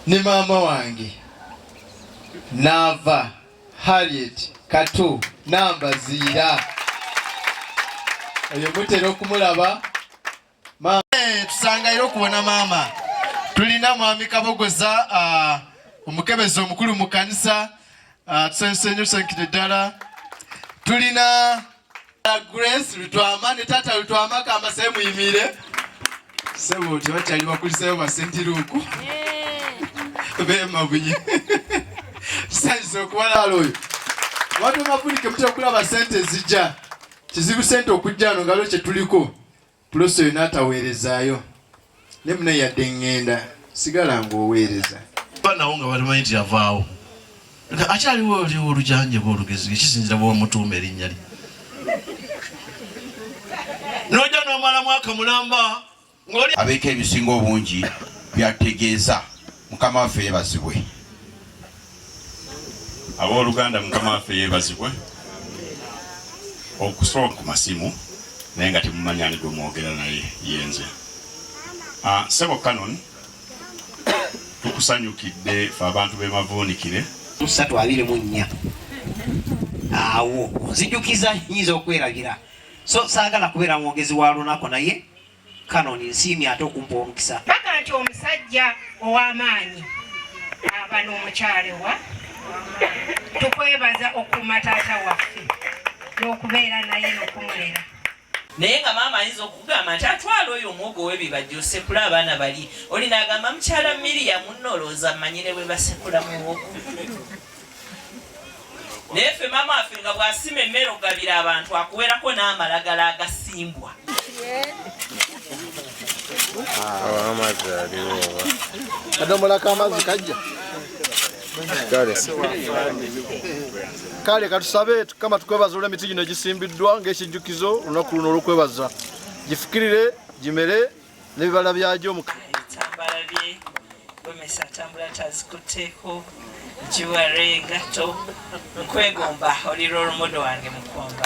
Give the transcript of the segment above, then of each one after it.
ne maama wange naava Harriet Katu Nambaziira oyo mutera okumulaba tusangayo okubona maama tulina mwami kabogoza uh, omukebezi omukulu mu kanisa uh, tusanyuse nyo tusanyukire ddala tulina uh, grace lutwama ne taata lutwama kamba se muyimire sebo tebakyali bakulisayo basentiruuku bemabunye tusanyuse okubalala oyo watu mafunike mutya okulaba sente zijja kizibu sente okujja no ngalo kyetuliko Plus oyo n'ataweerezaayo ne mune yadde ŋŋenda sigala ng'oweereza. Banawo nga balimanyi nti yavaawo nga akyaliwo oliwo olujanjaba olugezi ekisinzira bwomutuuma erinnya lye noja nomala mwaka mulamba ngoli abeeko ebisinga obungi byategeeza Mukama waffe yebazibwe. Abooluganda Mukama waffe yebazibwe okusooka ku masimu naye nga temumanya ani gwe mwogera naye yenze ah, sebo canon tukusanyukidde fe abantu bemavuunikire musatu abiri mu nnya awo nzijukiza nyinza okweragira so saagala kubeera mwogezi wa lunaku naye Canon nsiimye ate okumpa omukisa. Mpaka nti omusajja ow'amaanyi aba n'omukyala wa tukwebaza okukuuma taata waffe n'okubeera naye n'okumulera naye nga maama ayinza okugamba nti atwala oyo omwogo webibajja osekula abaana bali oli nagamba mukyala miriya muno olowooza manyire bwebasekula muwogo naye ffe maama waffe nga bw'asima emmere okugabira abantu akuwerako n'amalagala agasimbwa kadomolako amazzi kajja kale katusabe tukama tukwebaza olw emiti gino egisimbiddwa ng'ekijjukizo olunaku luno olwokwebaza gifukirire gimere nebibala byagyo ebitambala bye gomesa atambula tazikutteko jiware engatto nkwegomba oli role model wange mukomba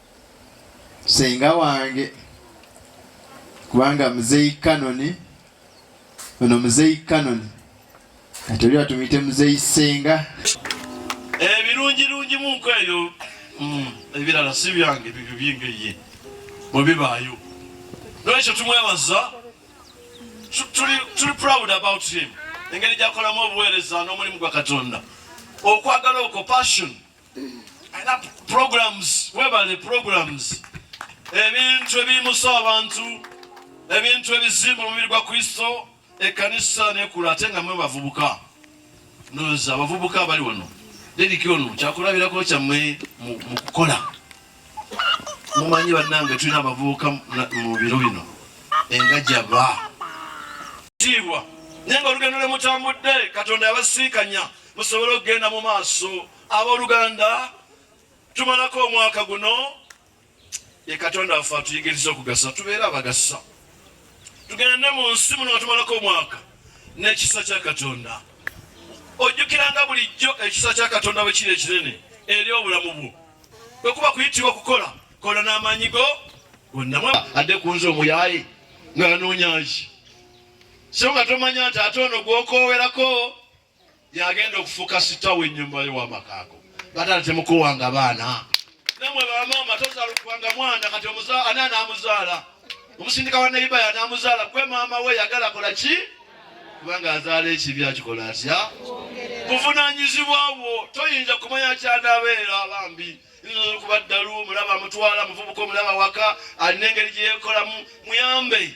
senga wange kubanga muzeyi kanoni ono muzeyi kanoni kati oli batumuyite muzeyi senga ebirungirungi eh, munku eyo mm, ebirala si byange bibyo byengeye bwe bibaayo lwekyo tumwebaza tuli proud about him engeri gyakolamu obuweereza n'omulimu gwa katonda okwagala okwo passion programs webale programs ebintu ebiyimusa abantu ebintu ebizimba omubiri gwa kristo ekanisa nekula ate nga mwe bavubuka noza abavubuka abali wano dediki ono kyakulabirako kyammwe mu kukola mumanyi bannange tulina abavubuka mu biro bino engajaba tiibwa naye nga olugendo lwemutambudde katonda yabasiikanya musobole okugenda mu maaso abooluganda tumalako omwaka guno ye katonda waffe atuyigiriza okugasa tubeere abagasa tugende mu nsi muno nga tumalako omwaka n'ekisa kya katonda ojjukiranga bulijjo ekisa kya katonda bwe kiri ekinene eri obulamu bwo bwe kuba kuyitibwa okukola kola n'amaanyi go gonna adde ku nze omuyaaye ng'anoonyaaki so nga tomanya nti ate ono gw'okoowerako yagenda okufuka sita wenyumba yo wamakago batala temukuwanga baana namwe bamama tozalukubanga mwana kati ani anamuzaala omusindika wa neiba yanamuzaala gwe maama we yagala kola ki kubanga azaala ekibi akikola atya buvunanyizibwa bwo toyinza kumanya kyanabeera bambi nkuba ddalu mulaba mutwala muvubuka omulaba waka alina engeri gyeyekolamu muyambe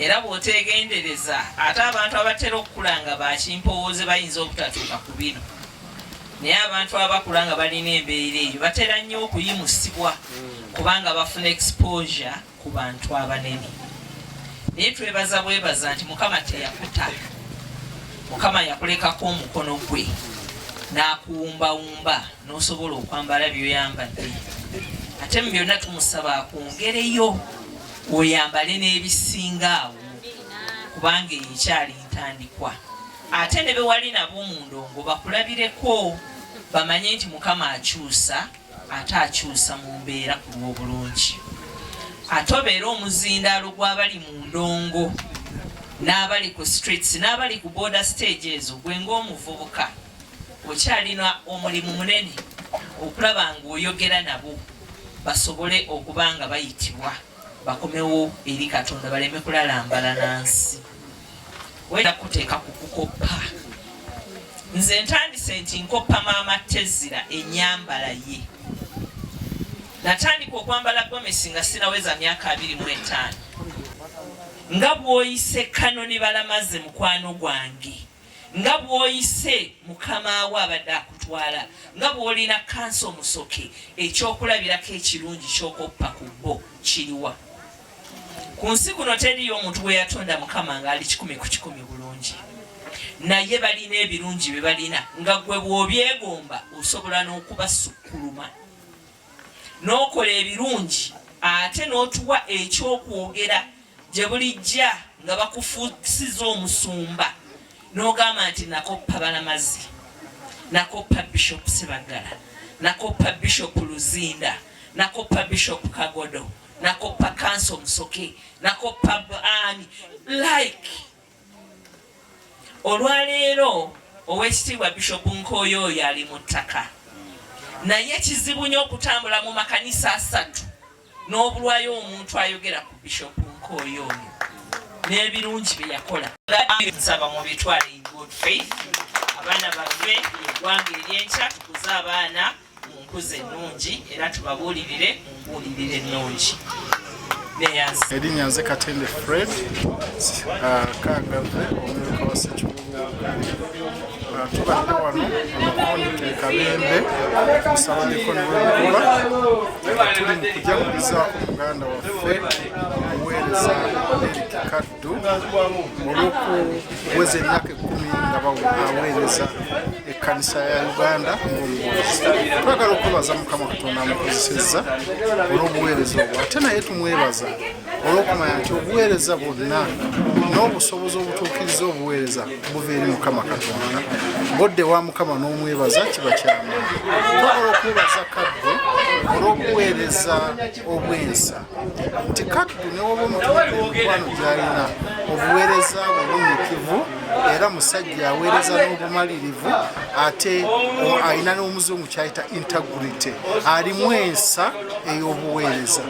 Era bw'oteegendereza ate abantu abatera okukula nga ba kimpowooze bayinza obutatuuka ku bino. Naye abantu abakula nga balina embeera eyo batera nnyo okuyimusibwa kubanga bafuna exposure ku bantu abanene. Naye twebaza bwebaza nti Mukama teyakuta. Mukama yakulekako omukono gwe n'akuwumbawumba n'osobola okwambala by'oyambadde. Ate mu byonna tumusaba akwongereyo. oyambale n'ebisinga awo kubanga eyo ekyali ntandikwa ate ne bewali nabo mu ndongo bakulabireko bamanye nti mukama akyusa ate akyusa mu mbeera ku lw'obulungi ate obeera omuzindaalo gw'abali mu ndongo n'abali ku streets n'abali ku border stage ezo gwe ng'omuvubuka Okyalina omulimu munene okulaba ng'oyogera nabo basobole okuba nga bayitibwa bakomewo eri Katonda baleme kulalambala na nsi. Wenda kuteeka ku kukoppa. Nze ntandise nti nkoppa maama Tezira ennyambala ye. Natandika okwambala gomesi nga sinaweza myaka abiri mu etaano. Nga bw'oyise Kanoni Balamaze mukwano gwange. nga bw'oyise mukama wo abadde akutwala nga bw'olina kansa omusoke ekyokulabirako ekirungi ky'okoppa ku bo kiriwa ku nsi kuno teriyo omuntu gwe yatonda mukama ng'ali kikumi ku kikumi bulungi naye balina ebirungi bye balina nga gwe bw'obyegomba osobola n'okubasukkuluma n'okola ebirungi ate n'otuwa ekyokwogera Gye bulijja nga bakufuusiza omusumba n'ogamba nti nakoppa Balamazi, nakoppa Bishop Sebaggala, nakoppa Bishop Luzinda, nakoppa Bishop Kagodo, nakoppa Kanso Musoke, nakoppa ani like olwaleero owekitiibwa Bishop Nkoyo oyo ali mu ttaka naye kizibu nyo okutambula mu makanisa asatu n'obulwayo omuntu ayogera ku Bishop Nkooyo oyo n'ebirungi bye yakola nsaba mu bitwale in good faith abaana bave eggwanga ery'enkya tukuze abaana mu nkuza ennungi era tubabuulirire mu mbuulirire ennungi erinnya nze katende fred uh, kangave omumyuka wa sekibuga tubadde wano omukundi kabembe musabaneko niwemukuba tuli mukujagulizaako muganda waffe omuweereza eric kaddu olwokuweza emyaka ekumi nga baweereza ekkanisa ya uganda ng'omubuuzi twagala okwebaza mukama katonda amukozesezza olw'obuweereza obwo ate naye tumwebaza olw'okumanya nti obuweereza bwonna n'obusobozi obutuukiriza obuweereza buva eri mukama katonda bodde wa mukama n'omwebaza kiba kyamu tokola okwebaza kaddu olw'okuweereza obwensa nti kaddu newoba omutuukwano gyalina obuweereza bwe bunyikivu era musajja aweereza n'obumalirivu ate alina n'omuzungu kyayita integrity alimu ensa ey'obuweereza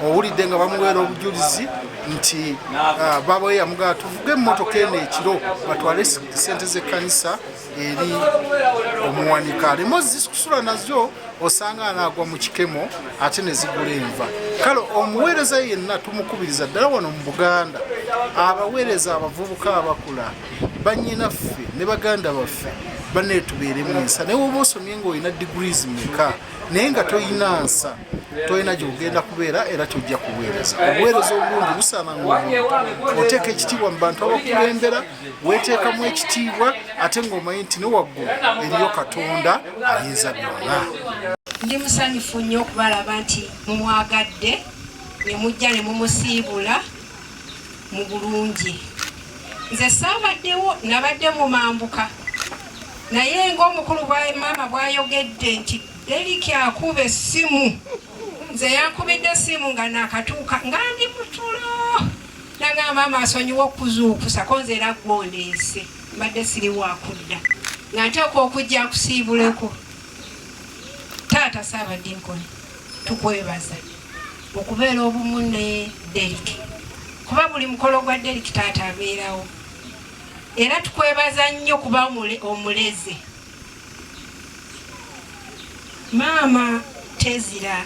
owulidde nga bamuweera obujulizi nti ah, baaba we yamugala tuvuge emmotoka eno ekiro batwale sente z'ekkanisa eri omuwanika aleme ozikusula nazo osanga anaagwa mu kikemo ate ne zigula enva kale omuweereza yenna tumukubiriza ddala wano mu buganda abaweereza abavubuka abakula banyinaffe ne baganda baffe baneetubeeremu ensa naye woba osomye ngaolina degrees meka naye nga tolina nsa tolina gyogenda kubeera era kyojja kuweereza obuweereza obulungi busaana ngomuntu oteeka ekitiibwa mu bantu abakulembera weteekamu ekitiibwa ate ngaomanyi nti ne waggulu eriyo katonda ayinza byonna ndi musanyufu nnyo okubalaba nti mumwagadde ne mujja ne mumusiibula mu bulungi nze saabaddewo nabadde mumambuka naye ngaomukulu maama bwayogedde nti eriki akuba essimu nze yankubidde essimu nga nakatuuka nga ndi mutulo nanga maama asonyiwa okuzuukusako nze era gwondeese mbadde siri wakudda nga nteeka okujja nkusiibuleko taata saabadinkoni tukwebaza okubeera obumu ne Derrick kuba buli mukolo gwa Derrick taata abeerawo era tukwebaza nnyo kuba omuleze maama tezira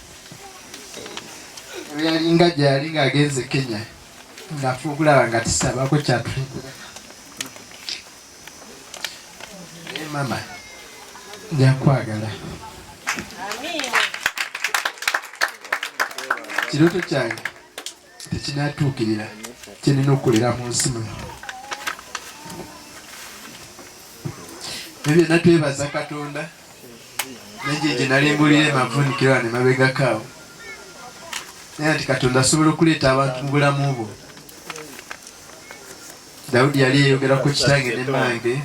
yalinga gyali ng'agenze kenya ngafe okulaba nga tisabako kyatulekera naye mama njakwagala kiroto kyange tekinatuukirira kyenina okukolera mu nsi muno ebyo natwebaza katonda naye gye nali mbulira emavunikiro ane mabegakaawo naye nti katonda asobola okuleeta abantu mu bulamu bwo dawudi yali yeyogera ku kitange ne mange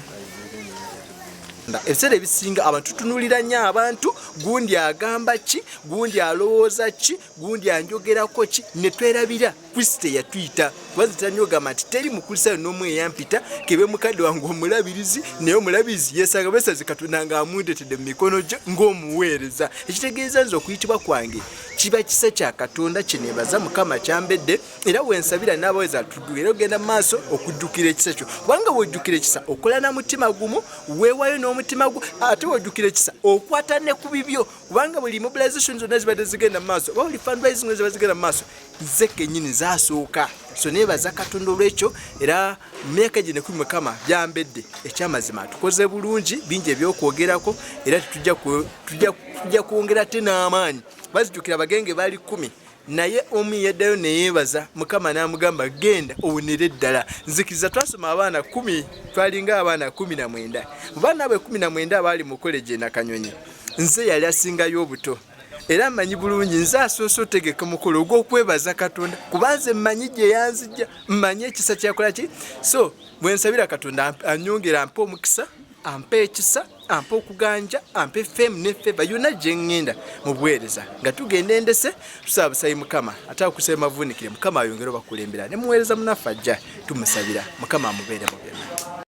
ebiseera ebisinga abantu tutunulira nyo abantu gundi agamba ki gundi alowooza ki gundi anjogerako ki netwerabira kristo eyatuyita kubazitanogamba nti teri mukulisayo nomu eyampita kebe mukadde wange omulabirizi naye omulabirizi yesanga besazi katonda nga amundetedde mu mikono gyo ngaomuweereza ekitegeeza nze okuyitibwa kwange kiba kisa kya katonda kyenebaza mukama kyambedde era wensabira n'abaweza tudu era ogenda maaso okujjukira ekisa kyo kubanga wojjukira ekisa okola na mutima gumu weewayo n'omutima gwo ate wojjukira ekisa okwata ne ku bibyo kubanga buli mobilization zonna zibadde zigenda mumaaso oba buli fundraising ziba zigenda mumaaso ze kenyini zasooka so nebaza katonda olwekyo era myaka gino ekumi mukama byambedde ekyamazima tukoze bulungi bingi ebyokwogerako era tetujja kwongera te n'amaanyi bazijukira bagenge bali kumi naye omu yaddayo neyeebaza mukama n'amugamba genda owonere ddala nzikiriza twasoma abaana kumi twalinga abaana kumi na mwenda mu baana abwe kumi na mwenda abaali mu koleji enakanyonyi nze yali asingayo obuto era amanyi bulungi nze asoose otegeka omukolo ogw'okwebaza katonda kuba nze mmanyi gye yanzija mmanyi ekisa kyakola ki so bwe nsabira katonda anyongera mpa omukisa ampa ekisa ampa okuganja ampa efemu nefeva yona gyengenda mubuweereza nga tugenda endese tusaba busabi mukama ate akusaba mavunikire mukama ayongere obakulembera ne muweereza munaffe ajja tumusabira mukama amubeere mu byonna